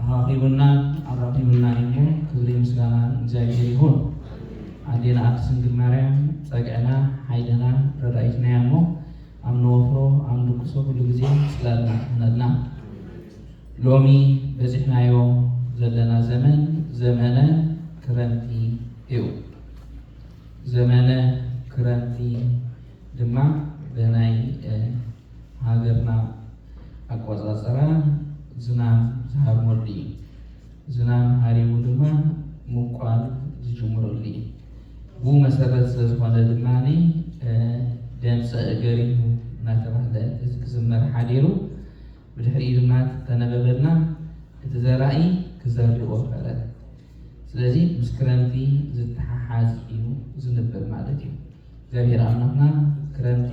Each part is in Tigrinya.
ኣራኺቡናን ኣራኺቡናን እዩሞ ክብሪ ምስጋና ንእግዚኣብሔር ይኹን። ኣዴና ቅድስት ድንግል ማርያም ጸግዕና ሓይልና ረዳኢትና እያ እሞ ኣብ ንወፍሮ ኣብ ንድቅሶ ኩሉ ግዜ ጽላልና ትኹነልና። ሎሚ በጺሕናዮ ዘለና ዘመን ዘመነ ክረምቲ እዩ። ዘመነ ክረምቲ ድማ ብናይ ሃገርና ኣቆፃፅራ ዝናም ዝሃርመሉ እዩ። ዝናም ሃሪሙ ድማ ምብቋል ዝጅምረሉ እዩ። ብኡ መሰረት ስለዝኾነ ድማ ደምፀ እገሪሁ እናተባህለ እዚ ክዝመር ሓዲሩ ብድሕሪኡ ድማ ተነበበልና እቲ ዘራኢ ክዘርእ ወፈረ። ስለዚ ምስ ክረምቲ ዝተሓሓዝ እዩ ዝንበብ ማለት እዩ። እግዚኣብሔር ኣምላክና ክረምቲ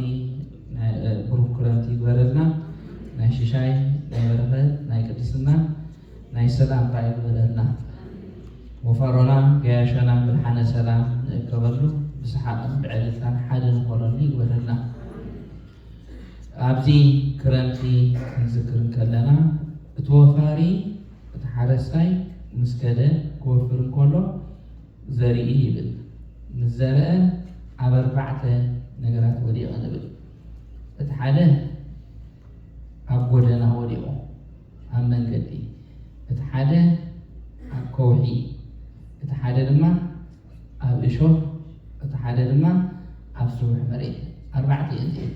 ብሩክ ክረምቲ ይግበረልና ናይ ሽሻይ ናይ በረከት ናይ ቅድስና ናይ ሰላም ካዓ ይግበረልና ወፈሮና ገያሾና ምድሓነ ሰላም ንእከበሉ ብስሓቅን ብዕልልታን ሓደ ንኮነሉ ይግበረልና ኣብዚ ክረምቲ ክንዝክር እንከለና እቲ ወፋሪ እቲ ሓረስታይ ምስ ከደ ክወፍር እንከሎ ዘርኢ ይብል ምስ ዘርኣ ኣብ ኣርባዕተ ነገራት ወዲቐ ንብል እቲ ሓደ ኣብ ጎደና ወዲቑ ኣብ መንገዲ እቲ ሓደ ኣብ ከውሒ እቲ ሓደ ድማ ኣብ እሾህ እቲ ሓደ ድማ ኣብ ስቡሕ መሬት ኣርባዕተ እየን እዚኤን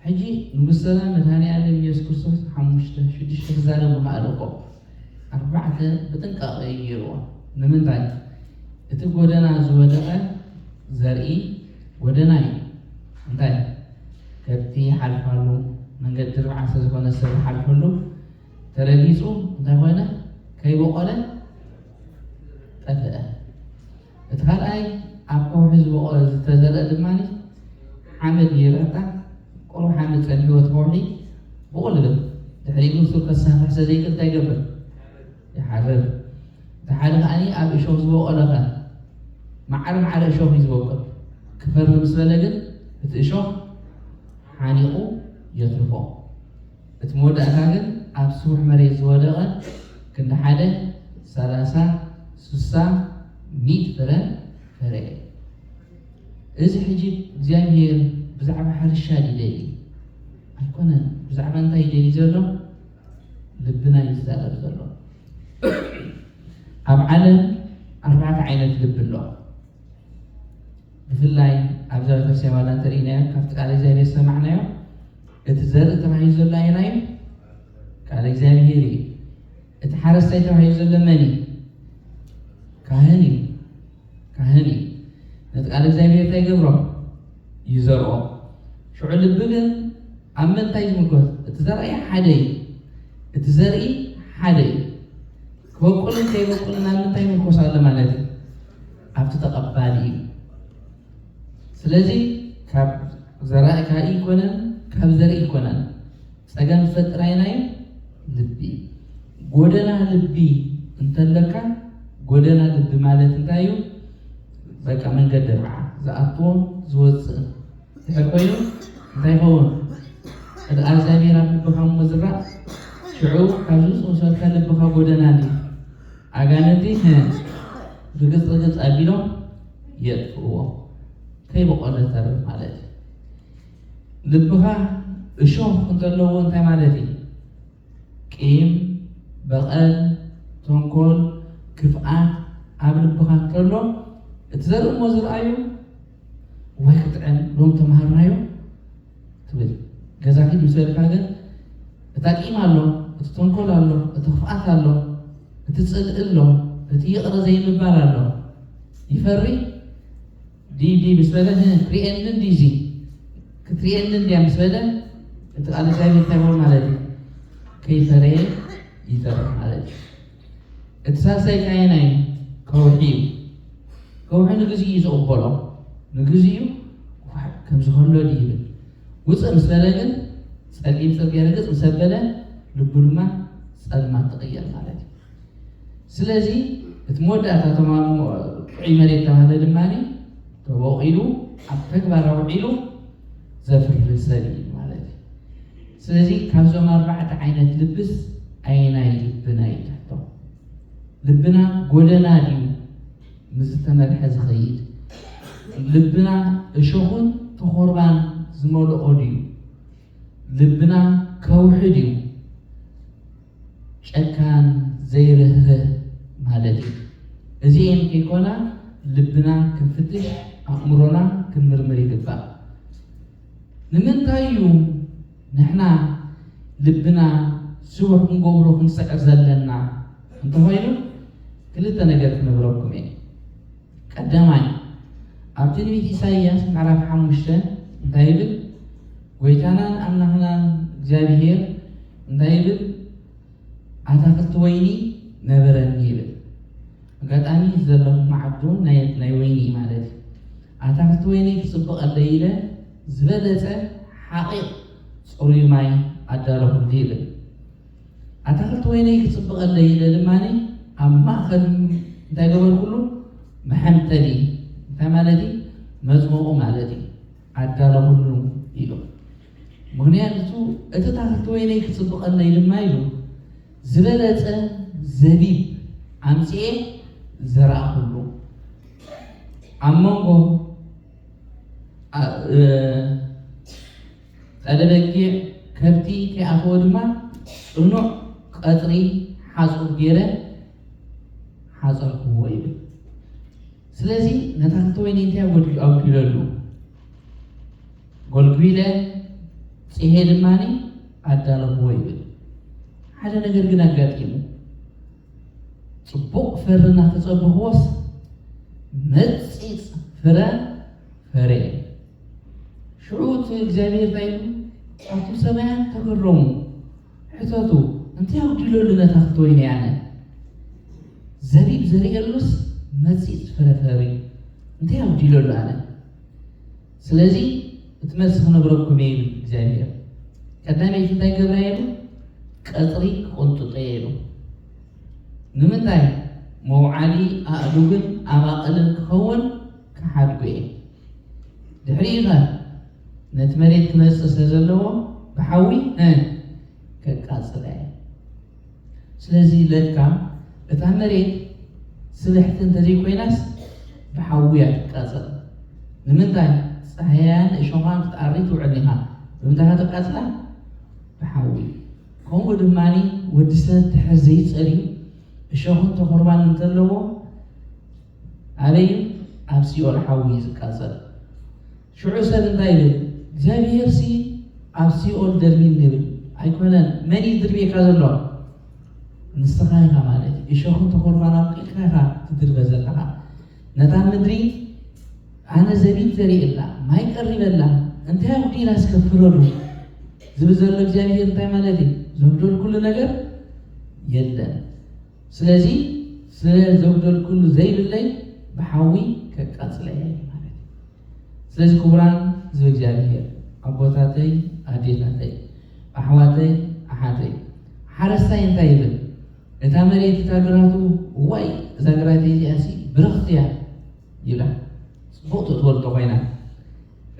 ሕጂ ንጉስ ሰላም መድሃኔ ኣለም ኢየሱስ ክርስቶስ ሓሙሽተ ሽዱሽተ ክዛረብ ምኸኣለ እኮ ኣርባዕተ ብጥንቃቐ እዩ ገይርዎ። ንምንታይ? እቲ ጎደና ዝወደቐ ዘርኢ ጎደና እዩ። እንታይ? ከብቲ ይሓልፋሉ፣ መንገዲ ርብዓ ስለ ዝኾነ ሰብ ይሓልፈሉ። ተረጊጹ እንታይ ኮነ? ከይቦቖለ ጠፍአ። እቲ ካልኣይ ኣብ ከውሒ ዝበቖለ ዝተዘርእ ድማ ሓመድ ይርዕታ ቁሩብ ሓመድ ጸኒሕዎ እቲ ከውሒ ብቑል ይብል ድሕሪኡ ሱር ከሳፍሕ ስለዘይክእል እንታይ ይገብር ይሓርር እቲ ሓደ ከዓኒ ኣብ እሾኽ ዝበቖለ ከ መዓረ መዓረ እሾኽ እዩ ዝበቁል ክፈሪ ምስ በለ ግን እቲ እሾኽ ሓኒቑ የትርፎ እቲ መወዳእታ ግን ኣብ ስቡሕ መሬት ዝወደቐ ክንዲ ሓደ፣ ሰላሳ፣ ስሳ፣ ሚእቲ ፍረ ፈረየ። እዚ ሕጂ እግዚኣብሄር ብዛዕባ ሕርሻ ድዩ ደልዩ? ኣይኮነን። ብዛዕባ እንታይ እዩ ደልዩ ዘሎ? ልብና እዩ ዝዛረብ ዘሎ። ኣብ ዓለም ኣርባዕተ ዓይነት ልቢ ኣሎ። ብፍላይ ኣብዛ ቤተክርስቲያን ዋላ እንተርኢናዮ ካብቲ ቃል እግዚኣብሄር ዝሰማዕናዮ እቲ ዘርኢ ተባሂሉ ዘሎ ኣየናይ እዩ? ቃለ እግዚኣብሔር እዩ። እቲ ሓረስታይ ተባሂሉ ዘሎ መን እዩ? ካህን እዩ። ካህን እዩ። ነቲ ቃለ እግዚኣብሔር እንታይ ይገብሮ? ይዘርኦ። ሽዑ ልቢ ግን ኣብ ምንታይ ዝምጎት? እቲ ዘርኢ ሓደ እዩ። እቲ ዘርኢ ሓደ እዩ። ክበቁልን ከይበቁልን ኣብ ምንታይ ይምርኮስ ኣሎ ማለት እዩ? ኣብቲ ተቐባሊ እዩ። ስለዚ ካብ ዘራእካ ኣይኮነን ካብ ዘርኢ ኣይኮነን ፀገም ዝፈጥር ኣይናዩ ልቢ ጎደና ልቢ እንተለካ ጎደና ልቢ ማለት እንታይ እዩ? በቃ መንገዲ ርዓ ዝኣትዎ ዝወፅእ ድሕር ኮይኑ እንታይ ይኸውን? እድኣ እግዚኣብሔር ኣብ ልብኻ እሞ ዝራእ ሽዑ ካብዚ ዝወሰድካ ልብኻ ጎደና እንዲ ኣጋንንቲ ርግጽ ርግጽ ኣቢሎም የጥፍእዎ ከይበቆለ ተርፍ ማለት እዩ። ልብኻ እሾኽ እንተለዎ እንታይ ማለት እዩ? ቂም፣ በቐል፣ ተንኮል፣ ክፍኣት ኣብ ልብኻ እንተሎ እቲ ዘርእሞ ዝርኣዩ ዋይ ክጥዕም ሎም ተማሃርናዮ ትብል ገዛ ኪድ ምስ በልካ ግን እታ ቂም ኣሎ እቲ ተንኮል ኣሎ እቲ ክፍኣት ኣሎ እቲ ፅልእ ኣሎ እቲ ይቕረ ዘይምባል ኣሎ ይፈሪ ዲዲ ምስ በለ ክሪኤኒ እንዲዚ ክትሪኤኒ እንዲያ ምስ በለ እቲ ቃል እግዚኣብሔር እንታይ ይኸውን ማለት እዩ ከይፈረየ ይተርፍ ማለት እዩ እቲ ሳልሳይ ኣየናይ ከውሒ እዩ? ከውሒ ንግዚኡ እዩ ዝቕበሎ፣ ንግዚኡ ኳሕ ከም ዝኸሎ ድዩ ይብል። ውፅእ ምስ በለ ግን ፀሊም ፅርግያ ርግፅ ምስ ኣበለ ልቡ ድማ ፀልማት ትቕየር ማለት እዩ። ስለዚ እቲ መወዳእታ ተማም ጥዑይ መሬት ተባህለ ድማ ተቦቒሉ ኣብ ተግባር ኣውዒሉ ዘፍሪ ሰብ እዩ ማለት እዩ። ስለዚ ካብዞም ኣርባዕተ ዓይነት ልብስ ኣየናይ ልብና እዩ ትሕቶ? ልብና ጎደና ድዩ ምስ ዝተመርሐ ዝኸይድ? ልብና እሾኹን ተኾርባን ዝመልኦ ድዩ? ልብና ከውሒ ድዩ? ጨካን ዘይርህርህ ማለት እዩ። እዚኤን ከይኮና ልብና ክንፍትሽ ኣእምሮና ክንምርምር ይግባእ። ንምንታይ እዩ ንሕና ልብና ስቡሕ ክንገብሮ ክንስዕር ዘለና እንተኾይኑ ክልተ ነገር ክነግረኩም እየ። ቀዳማይ ኣብ ትንቢት ኢሳይያስ ምዕራፍ ሓሙሽተ እንታይ ይብል? ጎይታናን ኣምላኽናን እግዚኣብሄር እንታይ ይብል? ኣታኽልቲ ወይኒ ነበረኒ ይብል። ኣጋጣሚ እቲ ዘለኹ መዓት እውን ናይ ወይኒ እዩ ማለት እዩ። ኣታኽልቲ ወይነይ ክጽብቐለይ ኢለ ዝበለጸ ሓቒቕ ጽሩይ ማይ ኣዳለኹሉ ይብል። ኣታኽልቲ ወይነይ ክጽብቐለይ ኢለ ድማ ኣብ ማእከል እንታይ ገበርኩሉ? መሐምተሊ እንታይ ማለት እዩ? መጽሞቑ ማለት እዩ ኣዳለኹሉ ኢሉ። ምኽንያቱ እቲ ታኽልቲ ወይነይ ክፅብቐለይ ድማ ኢሉ ዝበለፀ ዘቢብ ኣምፂኤ ዘራእኹሉ። ኣብ መንጎ ጠለበጊዕ ከብቲ ከይኣተወ ድማ ፅኑዕ ቐፅሪ ሓፁር ገይረ ሓፀርኩዎ ይብል። ስለዚ ንታኽልቲ ወይነይ እንታይ ጎዲሉ ኣጉዲለሉ? ጎልጒለ ጽሔ ድማ ኣዳለኹዎ ይብል። ሓደ ነገር ግን ኣጋጢሙ። ጽቡቕ ፍሪ እናተጸበኹዎስ መጺጽ ፍረ ፈረየ። ሽዑ እቲ እግዚኣብሔር እንታይ ኢሉ ኣብቶም ሰማያት ተገረሙ፣ ሕተቱ እንታይ ኣጉዲለሉ ነታ ክትወይኒ ያነ ዘቢብ ዘርእየሉስ መጺጽ ፍረ ፈሪ እንታይ ኣጉዲለሉ ኣነ ስለዚ እቲ መልሲ ክነግረኩም እየ ይብል እግዚኣብሄር። ቀዳመይቲ እንታይ ገብራ እየ ኢሉ? ቀጽሪ ክቕንጥጦ እየ ኢሉ። ንምንታይ? መውዓሊ ኣእዱግን ኣባቕልን ክኸውን ክሓድጎ እየ። ድሕሪኡኸ ነቲ መሬት ክመጽእ ስለ ዘለዎ ብሓዊ ከቃጽላ እየ። ስለዚ ለካ እታ መሬት ስብሕቲ እንተዘይኮይናስ ብሓዊ እያ ትቃፀል። ንምንታይ? ፃህያያን እሾኻን ክትኣሪ ትውዕል ኢኻ። ብምንታይ ኢኻ ተቃፅላ? ብሓዊ። ከምኡ ድማ ወዲ ሰብ ድሕር ዘይፀርዩ እሾኽን ተኾርባን እንተለዎ ኣበይ እዩ? ኣብ ሲኦል ሓዊ እዩ ዝቃፀል። ሽዑ ሰብ እንታይ ይብል? እግዚኣብሄርሲ ኣብ ሲኦል ደርቢኒ ይብል። ኣይኮነን። መን እዩ ዝድርብየካ ዘሎ? ንስኻ ኢኻ ማለት እዩ። እሾኽን ተኾርማን ኣብቂልካ ኢኻ ትድርበ ዘለኻ። ነታ ምድሪ ኣነ ዘቢብ ዘሪእላ፣ ማይ ቀሪበላ፣ እንታይ ኣጉዲላ እስከ ፍረዱ ዝብል ዘሎ እግዚኣብሄር እንታይ ማለት እዩ? ዘጉደልኩሉ ነገር የለን። ስለዚ ስለ ዘጉደልክሉ ዘይብለይ ብሓዊ ከቃጽላ እየ ማለት እዩ። ስለዚ ክቡራን ህዝቢ እግዚኣብሄር ኣቦታተይ ኣዴታተይ ኣሕዋተይ ኣሓተይ ሓረስታይ እንታይ ይብል ነታ መሬት እታ ግራቱ እዋይ እዛ ግራተይ እዚኣሲ ብርኽቲ እያ ይብላ ጽቡቕ ትእትወልጦ ኮይና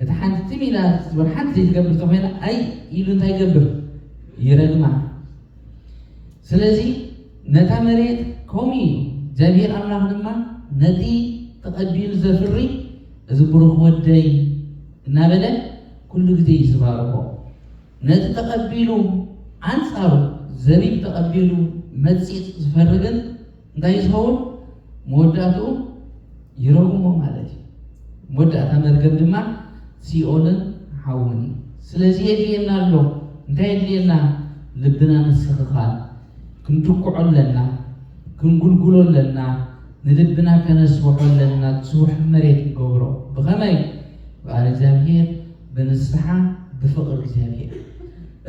እታ ሓንቲ ትም ኢላ ክትዝበር ሓንቲ ዘይትገብር ተኾይና ኣይ ኢሉ እንታይ ይገብር ይረግማ ስለዚ ነታ መሬት ከምኡ እዩ እግዚኣብሔር ኣምላኽ ድማ ነቲ ተቐቢሉ ዘፍሪ እዚ ብሩኽ ወደይ እናበለ ኩሉ ግዜ እዩ ዝባርኮ ነቲ ተቐቢሉ ኣንጻሩ ዘቢብ ተቐቢሉ መጺጽ ዝፈሪ ግን እንታይ እዩ ዝኸውን? መወዳእትኡ ይረጉሞ ማለት እዩ። መወዳእታ መርገም ድማ ሲኦልን ሓውን እዩ። ስለዚ የድልየና ኣሎ እንታይ የድልየና? ልብና ምስትኽኻል ክንትኩዖ ኣለና፣ ክንጉልጉሎ ኣለና፣ ንልብና ከነስብሖ ኣለና፣ ዝስውሕ መሬት ክንገብሮ ብኸመይ? ብቃል እግዚኣብሔር፣ ብንስሓ፣ ብፍቕሪ እግዚኣብሔር።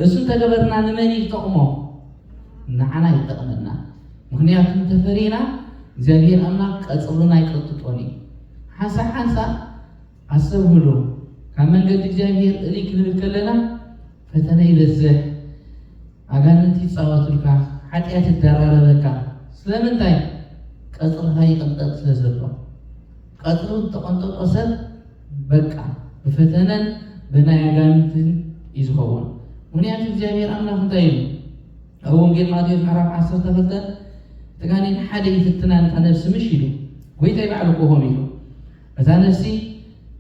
እሱ እንተገበርና ንመን እዩ ዝጠቕሞ? ንዓና ይጠቕመና። ምኽንያቱ እንተፈሪና እግዚኣብሄር ኣምላኽ ቀጽርና ኣይቀጥጦን እዩ። ሓንሳእ ሓንሳእ ኣስተብህሉ፣ ካብ መንገዲ እግዚኣብሄር እልይ ክንብል ከለና ፈተነ ይበዝሕ፣ ኣጋንንቲ ይጻወቱልካ፣ ሓጢኣት ይደራረበካ። ስለምንታይ? ቀጽርኻ ይቕንጠጥ ስለ ዘሎ። ቀጽሩ ዝተቐንጠጦ ሰብ በቃ ብፈተነን ብናይ ኣጋንንትን እዩ ዝኸውን። ምኽንያቱ እግዚኣብሄር ኣምላኽ እንታይ ኢሉ? ኣብ ወንጌል ማቴዎስ ምዕራፍ ዓሰርተ ክልተ እቲ ጋኔን ሓደ ይፍትና ነታ ነፍሲ ምሽ ኢሉ ጎይታይ ባዕሉ እኮ ከምኡ ኢሉ እታ ነፍሲ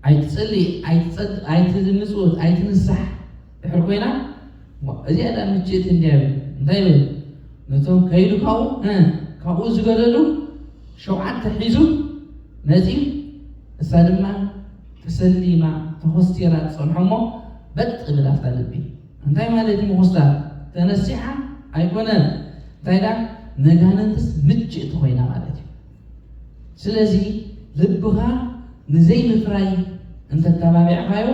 ኣይትጽሊ ኣይትጸድ ኣይትምጽውት ኣይትንሳሕ ድሕር ኮይና እዚኣ ዳ ምችእቲ እንዲያ ይብል እንታይ ይብል ነቶም ከይዱ ካብኡ ካብኡ ዝገደዱ ሸውዓተ ሒዙ መጺ እሳ ድማ ተሰሊማ ተኾስቲራ ትጸንሖ እሞ በጥ ብል ኣብታ ልቢ እንታይ ማለት እዩ ምኹስታር? ተነሲሓ ኣይኮነን እንታይ ደኣ ነጋንንትስ ምችእቲ ኮይና ማለት እዩ። ስለዚ ልብኻ ንዘይምፍራይ እንተተባቢዕኻዮ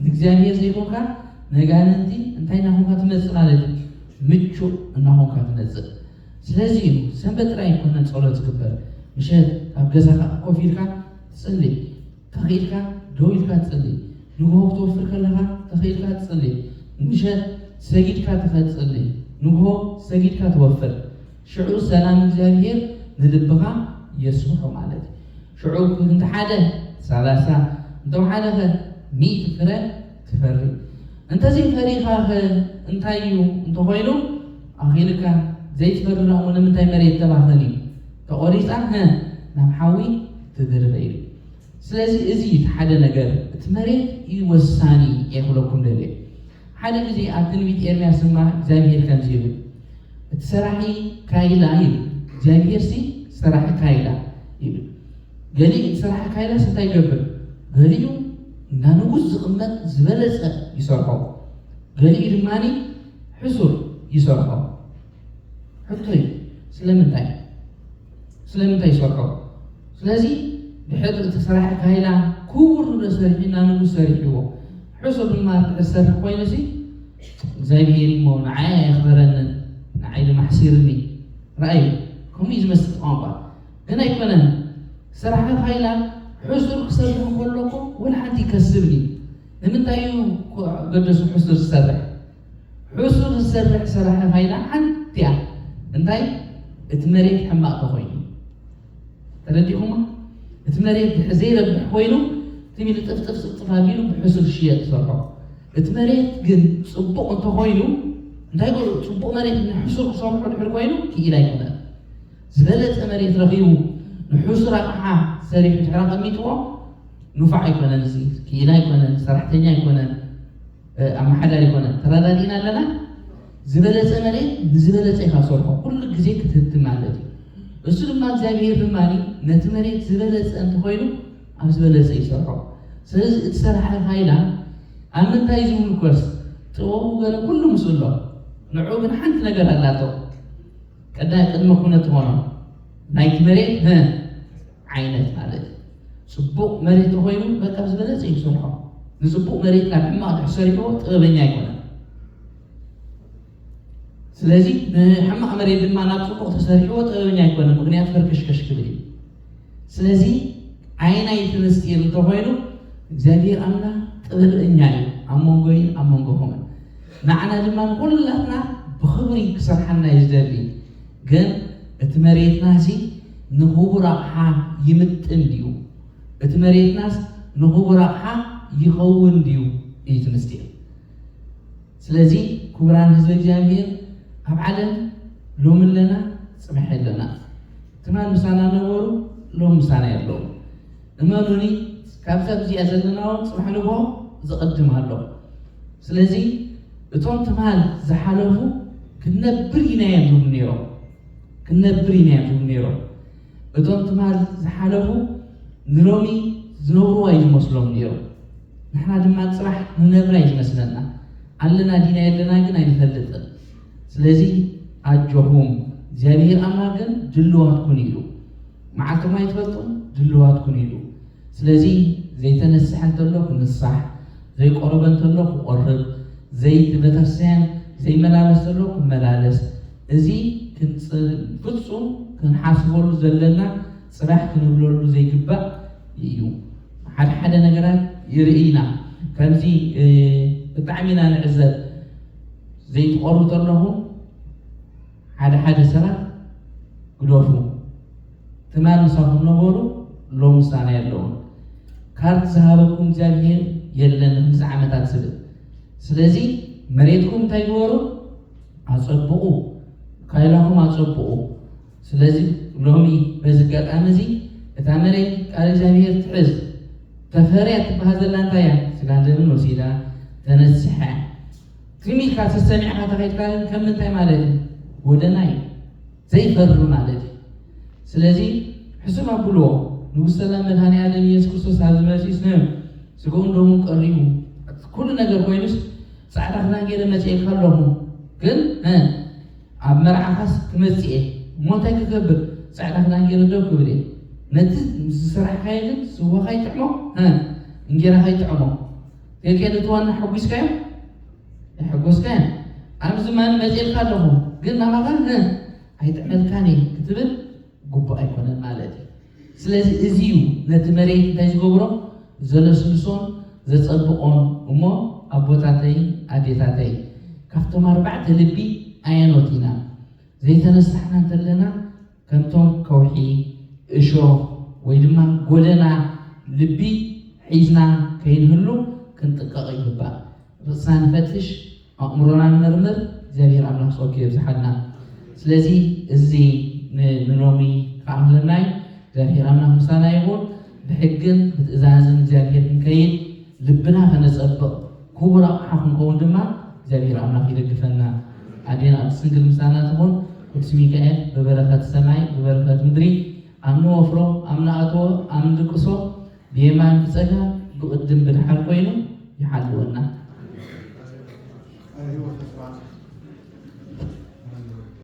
ንእግዚኣብሔር ዘይኮንካ ነጋንንቲ እንታይ እናኾንካ ትመጽእ ማለት እዩ? ምቹእ እናኾንካ ትመጽእ። ስለዚ እዩ ሰንበት ጥራይ ኣይኮነን ጸሎት ዝግበር ምሸት ኣብ ገዛኻ ኮፍ ኢልካ ትጽሊ ተኽኢልካ ደው ኢልካ ትጽሊ፣ ንግሆ ክትወፍር ከለኻ ተኽኢልካ ትጽሊ፣ ምሸት ሰጊድካ ትኸ ትጽሊ፣ ንግሆ ሰጊድካ ትወፍር፣ ሽዑ ሰላም እግዚኣብሄር ንልብኻ የስፍሖ ማለት እዩ። ሽዑ እንተሓደ ሰላሳ እንተውሓደኸ ሚእቲ ፍረ ትፈሪ? እንተዘይ ፈሪኻኸ እንታይ'ዩ? እንተኾይኑ ኣኺሉካ፣ ዘይትፈሪ ደኣ'ሞ ንምንታይ መሬት ተባኸሊ ተቖሪጻ ሀ ናብ ሓዊ ትድርበ ኢሉ። ስለዚ እዚ እቲ ሓደ ነገር እቲ መሬት እዩ ወሳኒ እየ ክብለኩም ደልየ። ሓደ ግዜ ኣብ ትንቢት ኤርምያስ ድማ እግዚኣብሄር ከምዚ ይብል እቲ ሰራሒ ካይላ ይብል እግዚኣብሄርሲ ሰራሒ ካይላ ይብል ገሊኡ ዝሰርሓ ካይላስ እንታይ ይገብር? ገሊኡ እንዳ ንጉስ ዝቕመጥ ዝበለጸ ይሰርሖ፣ ገሊኡ ድማ ሕሱር ይሰርሖ። ሕቶይ ስለምንታይ ስለምንታይ ይሰርሖ? ስለዚ ድሕር እቲ ስራሕ ካይላ ክቡር ንብረ ሰሪሒ እንዳ ንጉስ ሰሪሕዎ ሕሱር ድማ ትዕሰርሕ ኮይኑ ሲ እግዚኣብሄር እሞ ንዓይ ኣየኽበረንን ንዓይ ድማ ሕሲርኒ። ረኣዩ ከምኡ እዩ ዝመስል ቋንቋ ግን ኣይኮነን ስራሕ ፋይላ ሕሱር ክሰርሕ እንከለኩ ወላ ሓንቲ ይከስብኒ ንምንታይ እዩ ገደሱ ሕሱር ዝሰርሕ ሕሱር ዝሰርሕ ስራሕ ፋይላ ሓንቲ እያ እንታይ እቲ መሬት ሕማቅ ተኮይኑ ተረዲኹማ እቲ መሬት ድሕር ዘይረብሕ ኮይኑ ትሚሉ ጥፍጥፍ ፅፍጥፍ ኣቢሉ ብሕሱር ሽየጥ ሰርሖ እቲ መሬት ግን ፅቡቅ እንተኮይኑ እንታይ ፅቡቅ መሬት ንሕሱር ክሰርሖ ድሕር ኮይኑ ክኢላ ኣይኮነን ዝበለጸ መሬት ረኺቡ ንሑሱር ኣቕሓ ሰሪሑ ድሕሪ ኣቐሚጥዎ ኑፋዕ ኣይኮነን እዚ ክኢላ ኣይኮነን ሰራሕተኛ ኣይኮነን ኣመሓዳሪ ኣይኮነን ተረዳዲእና ኣለና ዝበለጸ መሬት ንዝበለጸ ኢኻ ሰርሖ ኩሉ ግዜ ክትህብቲ ማለት እዩ እሱ ድማ እግዚኣብሄር ድማ ነቲ መሬት ዝበለጸ እንተኾይኑ ኣብ ዝበለጸ ይሰርሖ ስለዚ እቲ ሰራሕኻ ኢላ ኣብ ምንታይ ዝምልኮስ ጥበቡ ገለ ኩሉ ምስ ኣሎ ንዑ ግን ሓንቲ ነገር ኣላቶ ቀዳይ ቅድመ ኩነት ሆኖ ናይቲ መሬት ህ ዓይነት ማለት እዩ። ፅቡቕ መሬት ተኾይኑ በቃ ዝበለፀ እዩ ክሰርሖ። ንፅቡቕ መሬት ናብ ሕማቕ ድሕር ሰሪሕዎ ጥበበኛ ኣይኮነን። ስለዚ ንሕማቕ መሬት ድማ ናብ ፅቡቕ ተሰሪሕዎ ጥበበኛ ኣይኮነን፣ ምኽንያቱ ህርክሽክሽ ክብል እዩ። ስለዚ ዓይናይ እቲ ምስጢር እንተኾይኑ እግዚኣብሔር ኣምላኽ ጥበብ እኛ እዩ ኣብ መንጎይን ኣብ መንጎኹምን ንዓና ድማ ንኹላትና ብኽብሪ ክሰርሓና እዩ ዝደሊ ግን እቲ መሬትና ሲ ንኽቡር ኣቕሓ ይምጥን ድዩ? እቲ መሬትናስ ንኽቡር ኣቕሓ ይኸውን ድዩ እዩ እቲ ምስጢር። ስለዚ ክቡራን ህዝቢ እግዚኣብሔር ኣብ ዓለም ሎሚ ኣለና ፅባሕ ኣለና ትማል ምሳና ነበሩ ሎሚ ምሳና የለውን እመኑኒ ካብዛ ኣብዚኣ ዘለና እውን ፅባሕ ንግሆ ዝቕድም ኣሎ ስለዚ እቶም ትማል ዝሓለፉ ክንነብር ኢና እዮም ዝብሉ ነይሮም ክንነብር ኢና እዮም ዝብሉ ነይሮም እቶም ትማል ዝሓለፉ ንሎሚ ዝነብርዋ እዩ ዝመስሎም ነይሩ ንሕና ድማ ፅባሕ ንነብራ እዩ ዝመስለና ኣለና ዲና የለና ግን ኣይንፈልጥን ስለዚ ኣጆኹም እግዚኣብሄር ኣምላኽ ግን ድልዋት ኩኑ ኢሉ መዓልቶም ኣይትፈልጡን ድልዋት ኩኑ ኢሉ ስለዚ ዘይተነስሐ እንተሎ ክንሳሕ ዘይቆረበ እንተሎ ክቆርብ ዘይት ቤተክርስቲያን ዘይመላለስ ዘሎ ክመላለስ እዚ ፍጹም ክንሓስበሉ ዘለና ጽባሕ ክንብለሉ ዘይግባእ እዩ ሓደ ሓደ ነገራት ይርእይና ከምዚ ብጣዕሚ ኢና ንዕዘብ ዘይትቀርቡ ዘለኹም ሓደ ሓደ ሰባት ግደፉ ትማል ምሳኹም ነበሩ ሎም ምሳና የለውን ካርድ ዝሃበኩም እግዚኣብሄር የለን ንክምዚ ዓመታት ዝብል ስለዚ መሬትኩም እንታይ ግበሩ ኣፀብቑ ካይላኹም ኣፀብቑ ስለዚ ሎሚ በዚ ኣጋጣሚ እዚ እታ መሬት ቃል እግዚኣብሄር ትሕዝ ተፈርያ ትበሃል ዘላ እንታይ እያ? ስጋን ደምን ወሲዳ ተነሲሓ እያ። ትም ኢልካ ተሰሚዕካ ተኸይድካ ግን ከም ምንታይ ማለት እዩ? ጎደና እዩ ዘይፈሪ ማለት እዩ። ስለዚ ሕሱም ኣብልዎ ንጉስ ሰላም መድሃኒ ዓለም ኢየሱስ ክርስቶስ ኣብዚ መጺኡስ ን ስግኡን ደሙን ቀሪቡ ኩሉ ነገር ኮይኑስ ጻዕዳ ክዳን ገይረ መጺኤካ ኣለኹ ግን ኣብ መርዓኻስ ክመጽእ እየ እሞ እንታይ ክገብር ጻዕዳ ክዳን ጌረ ደው ክብል እየ ነቲ ዝሰራሕካዮ ግን ስዋ ካይጥዕሞ ሀ እንጌራ ካይጥዕሞ ገቄ ነቲ ዋና ሐጒስካዮ ኣይሐጎስካዮን ኣብዚ ማን መጽኤልካ ኣለኹ ግን ናባኻ ሀ ኣይጥዕመልካን እየ ክትብል ግቡእ ኣይኮነን ማለት እዩ። ስለዚ እዚ እዩ ነቲ መሬት እንታይ ዝገብሮ ዘለስልሶን ዘጸብቆን እሞ ኣቦታተይን ኣዴታተይን ካብቶም ኣርባዕተ ልቢ ኣየኖት ኢና ዘይተነሳሕና እንተለና ከምቶም ከውሒ እሾኽ ወይ ድማ ጎደና ልቢ ሒዝና ከይንህሉ ክንጥቀቕ ይግባእ። ርእስና ንፈትሽ፣ ኣእምሮና ንመርምር እግዚኣብሔር ኣምላክ ጸጉ የብዝሓልና ስለዚ እዚ ንሎሚ ክኣክለናይ እግዚኣብሔር ኣምላክ ምሳና ይኩን ብሕግን ብትእዛዝን እግዚኣብሔር ክንከይድ ልብና ከነጸብቕ ክቡር ኣቕሓ ክንከውን ድማ እግዚኣብሔር ኣምላክ ይደግፈና ኣዴና ቅድስት ድንግል ምሳና ትኹን ቅዱስ ሚካኤል ብበረከት ሰማይ ብበረከት ምድሪ ኣብ ንወፍሮ ኣብ ንኣትዎ ኣብ ንድቅሶ ብየማን ብጸጋም ብቅድም ብድሓር ኮይኑ ይሓልወና።